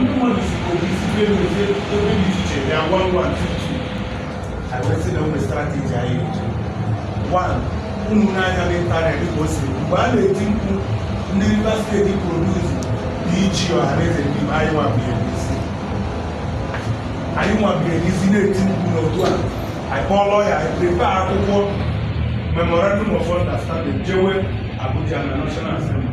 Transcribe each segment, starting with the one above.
ndị mmadụ si obi site n'ofe ebe dị iche iche bịa gwa ngwa ntutu anyị wee sị na o nwe strateji anyị eji one ụmụ n'anya n'ịntanetị dịka o si mgbe a na-eti mkpu ndị Rivers State produce dị ichi ọha na eze ndị anyị nwabie n'isi anyị nwabie n'isi na-eti mkpu n'otu a anyị kpọọlọ ya anyị prepare akwụkwọ memorandum of understanding jewe abuja na national assembly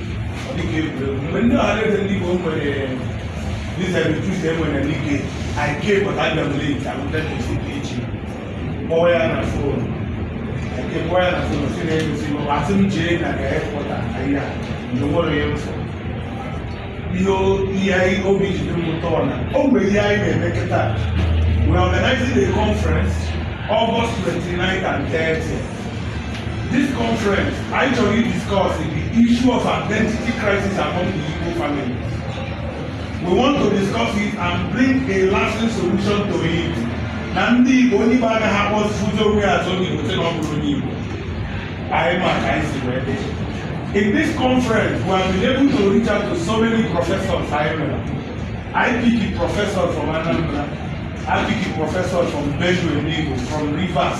dịka egwuregwu mgbe ndị ọhaneze ndị Igbo nwere disabilitis enwere n'ike anyị kee pụta abịa m link alụta n'isi dị iche kpọọ ya na fon eke kpọọ ya na fon si na-egosi m asị m jee na ga airport ahịa mgbe nwere ya mfọ ihe ihe anyị obi ji dị m ụtọ na o nwere ihe anyị na-eme kịta we are organizing a conference August 29 and 30 This conference, anyị chọrọ ị discuss the issue of identity crisis among the Igbo families. We want to discuss it and bring a lasting solution to it. Na ndị Igbo onye Igbo agaghị agbakụta onwe ya azụ onye Igbo sị na ọ bụrọ onye Igbo. Anyị ma ka anyị si wee dị. In this conference, we have been able to reach out to so many professors I know. I pick a professor from Anambra. I pick a professor from Benue, from Rivers.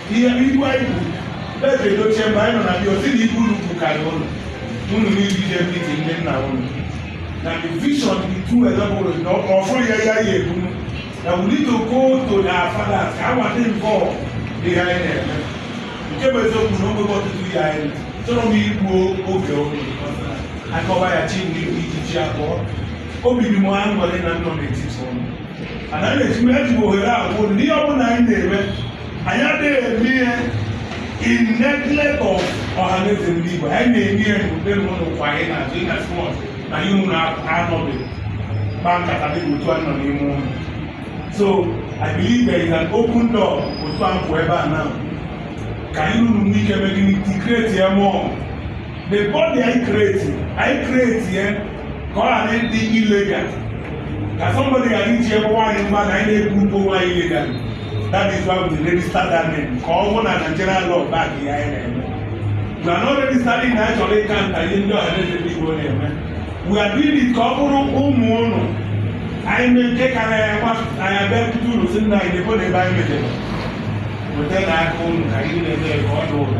ihe Igbo anyị bụ eze edochie mgbe anyị nọ na bịa ozi na Igbo unu bụ karịa ụlọ unu niile jee meet ndị nna unu na the vision the two eleboro na ọfụrụ ya ya ya ebu na we need to go to the fathers ka awa dị mbọ dị ha anyị na-eme nke bụ eziokwu na oge ọtụtụ ya achọrọ m igbu oge oge akọwa ya chi ndị ijiji abụọ obi dị m aṅụrị na m nọ n'etiti unu ana m eji m eji ohere a kwuo na ihe ọ bụla anyị na-eme anyị adịghị eme ihe in neglect of ọhaneze ndị Igbo anyị na-eme ihe n'ụdị na unu nọkwa anyị n'azụ in as much na ihe unu anọghị kpa nkata dị otu a nọ n'ime unu so I believe there is an open door otu a pụọ ebe a now ka anyị ruru nwee ike mee gịnị create ya more the body anyị create anyị create ya ka ọ ghara ịdị illegal ka somebody ghara iji ebe nwaanyị mma na anyị na-ekwu ugbo nwaanyị illegal that is why we register that name ka ọ bụrụ na Nigerian law back ihe anyị na-eme we are not registering na anyị chọrọ ị counter ihe ndị ọhaneze ndị Igbo na-eme we are doing it ka ọ bụrụ ụmụ ụnụ anyị mee nke kara ya nwa anyị abịakwute ụnụ sị nna anyị nekwanụ ebe anyị mejere weta n'aka ụnụ ka anyị na-eme ka ọ dị ụnụ